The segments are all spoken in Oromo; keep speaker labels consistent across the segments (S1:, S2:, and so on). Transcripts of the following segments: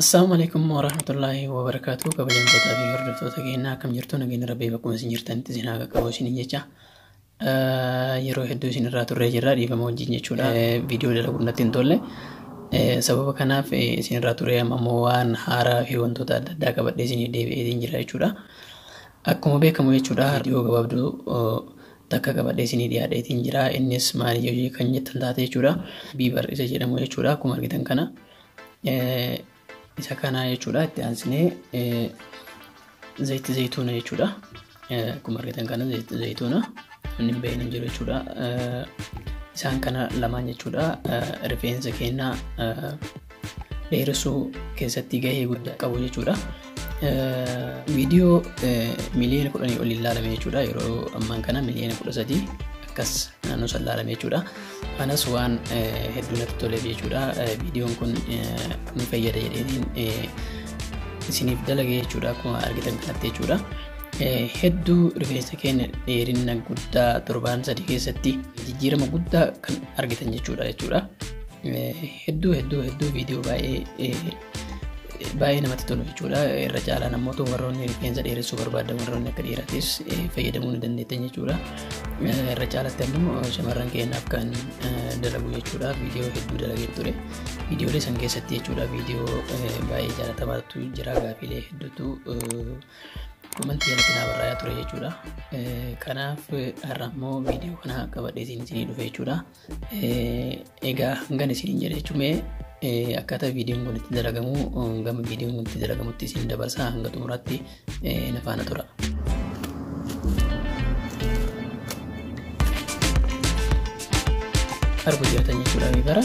S1: Assalamu alaikum warahmatullahi wabarakatuh kabajamtoota fi hordoftoota keenyaa akkam jirtu nageenya rabbii bakkuma isin jirtanitti isin haa qaqqabu isinin jecha yeroo hedduu isin irraa turree jirra dhiifama wajjin jechuudha viidiyoo dalaguun natti hin tolle sababa kanaaf isin irraa turree amma immoo waan haaraa fi wantoota adda addaa qabadhee isin deebi'ee jira jechuudha Akkuma beekamu jechuudha viidiyoo gabaabduu takka qabadhee isinii dhiyaadheetiin jira. Innis maali yoo kan jettan taate jechuudha. Biibar isa jedhamu jechuudha. Akkuma argitan kana isa kana jechuudha. Itti aansinee zayitti zayituuna jechuudha. Akkuma argitan kana zayitti zayituuna inni hin beekne hin jiru jechuudha. Isaan kana lamaan jechuudha rifeensa keenyaa dheeressuu keessatti gahee guddaa qabu jechuudha. Viidiyoo miliyoona kudhanii ol ilaalame jechuudha. Yeroo ammaan kana miliyoona kudha sadii akkas naannoo san ilaalame jechuudha. Kanas waan hedduu natti toleef jechuudha. Viidiyoon kun ni fayyada jedheen isiniif dalage jechuudha akkuma argitan kanatti jechuudha. Hedduu rifeensa keenya dheerina guddaa torbaan sadii keessatti jijjiirama guddaa kan argitan jechuudha jechuudha. Hedduu hedduu hedduu viidiyoo baay'ee baay'ee namatti tolu jechuudha. Irra caalaan ammoo warroonni rifeensa dheeressuu barbaadan warroonni akka dhiiratis fayyadamuu ni dandeettan jechuudha. Irra caalatti ammoo shamarran keenyaaf kan dalagu jechuudha. Viidiyoo hedduu dalagee ture. Viidiyoolee san keessatti jechuudha viidiyoo baay'ee jaalatamaatu jira gaafiilee hedduutu komantii irratti naa barraa'aa ture jechuudha. Kanaaf har'a ammoo viidiyoo kana qabadhee isinii dhufe jechuudha. Egaa hangan isiniin jedhe jechuun mee akkaataa viidiyoon kun itti dalagamu gama viidiyoon kun itti dalagamutti isin dabarsaa hanga xumuraatti na faana tura. Arguu jirtan jechuudha bara.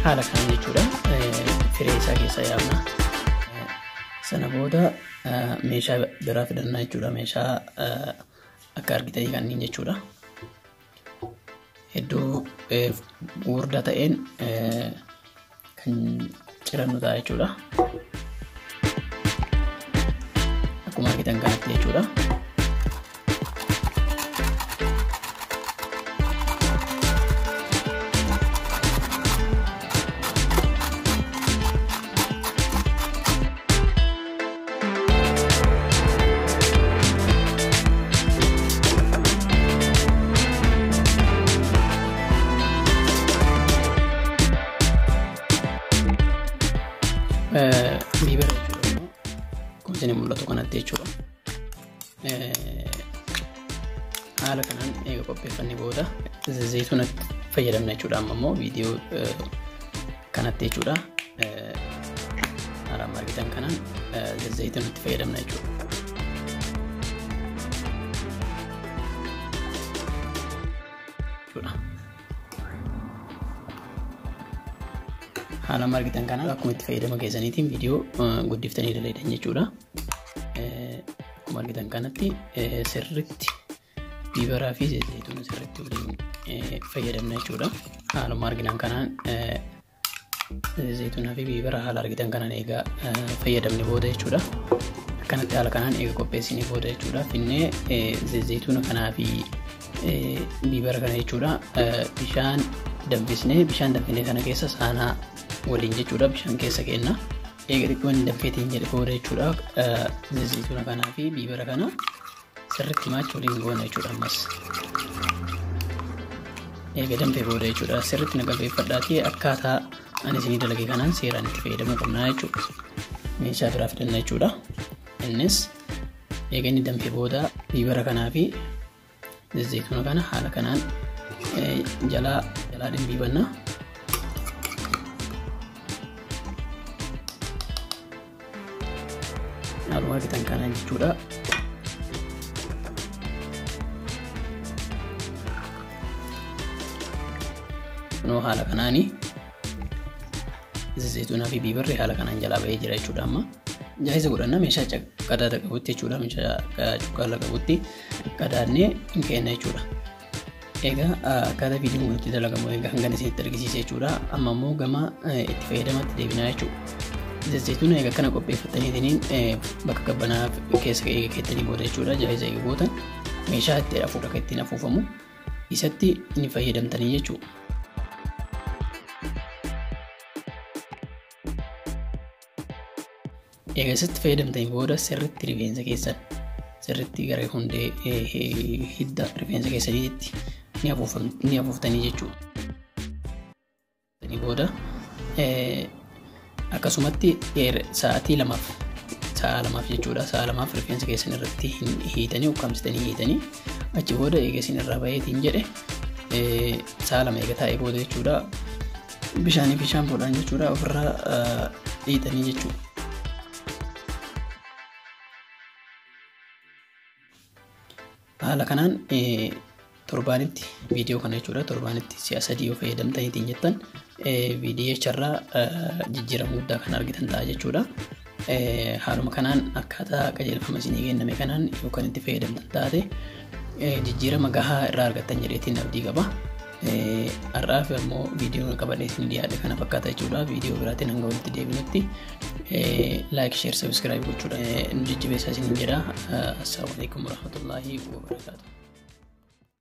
S1: haala kana jechuudha firee isaa keessaa yaafna sana booda meeshaa biraa fidannaa jechuudha meeshaa akka argitanii kanneen jechuudha hedduu gurguddaa ta'een kan cirannu ta'a jechuudha. Akkuma argitan kanatti jechuudha. Bibira jechuudha. Kun isin mul'atu kanatti jechuudha. haala kanaan eega qopheeffanne booda zayituuna fayyadamna jechuudha amma immoo viidiyoo kanatti jechuudha haala argitan kanaan zayituuna itti fayyadamna jechuudha. haala argitan kanaan akkuma itti fayyadama keessaniitiin viidiyoo guddiftanii dalaydhan jechuudha. Akkuma argitan kanatti sirriitti biibaraa fi zayituun sirriitti waliin fayyadamna jechuudha. Haaluma arginan kanaan zayituunaa fi biibara haala argitan kanaan egaa fayyadamne booda jechuudha. Akkanatti haala kanaan eega qopheessine booda jechuudha. Finnee zayituuna kanaa fi biibara kana jechuudha. Bishaan danfisnee bishaan danfisnee kana keessa saanaa waliin jechuudha bishaan keessa keenna. Eega xiqqoo hin daffeetiin jedhe booda jechuudha zayituuna kanaa fi biibara kana sirriitti maacha waliin goona jechuudha ammas. Eega danfee booda jechuudha sirriitti na qalbeeffadhaatii akkaataa ani isinii dalage kanaan seeraan itti fayyadamuu qabnaa jechuudha. Meeshaa biraa fidanna jechuudha. Innis eega inni danfee booda biibara kanaa fi Zayituma kana haala kanaan jalaa jalaa dhimbiibanna. Haaluma argitan kana jechuudha. Kunoo haala kanaani zayituunaa fi biibarri haala kanaan jalaa bahee jira jechuudha amma. Jaayiza godhanna meeshaa qadaada qabutti jechuudha meeshaa cuqqaala qabutti. qadaadnee hin keenna jechuudha. Egaa akkaataa viidiyoon kun itti dalagamu egaa hangana isinitti argisiise jechuudha. Amma immoo gama itti fayyadamatti deebinaa jechuudha. Zayituun egaa kana qopheeffataniitiin bakka qabbanaa keessa keessanii booda jechuudha. Jaayiza egaa booda meeshaa itti hafuudha kan ittiin hafuufamu isatti ni fayyadamtanii jechuudha. Egaa isatti fayyadamtanii booda sirriitti rifeensa keessan sirriitti gara hundee hidda rifeensa keessaniitti ni afuuftanii jechuudha. booda akkasumatti sa'aatii lamaaf sa'a lamaaf jechuudha sa'a lamaaf rifeensa keessan irratti hiitanii ukkaamsitanii hiitanii achi booda eega isin irraa baheetiin jedhe sa'a lama eega taa'ee booda jechuudha Bishaanii fi shaampoodhaan jechuudha ofirraa dhiitanii jechuudha. Haala kanaan torbaanitti viidiyoo kana jechuudha torbaanitti si'a sadii yoo fayyadamtaniitiin jettan viidiyoo irraa jijjiirama guddaa kan argitan ta'a jechuudha. Haaluma kanaan akkaataa qajeelfama isinii kenname kanaan yoo kan itti fayyadamtan taate jijjiirama gahaa irraa argattan jedheetiin abdii qaba. Har'aa fi ammoo viidiyoon qabadhee isin dhiyaate kana fakkaata jechuudha. Viidiyoo biraatiin hanga walitti deebinutti laayik, sheer, sabiskiraayib gochuudha. Nu jajjabeessaa isin jedha. Assalaamu alaikum warahmatullaahi wabarakaatuh.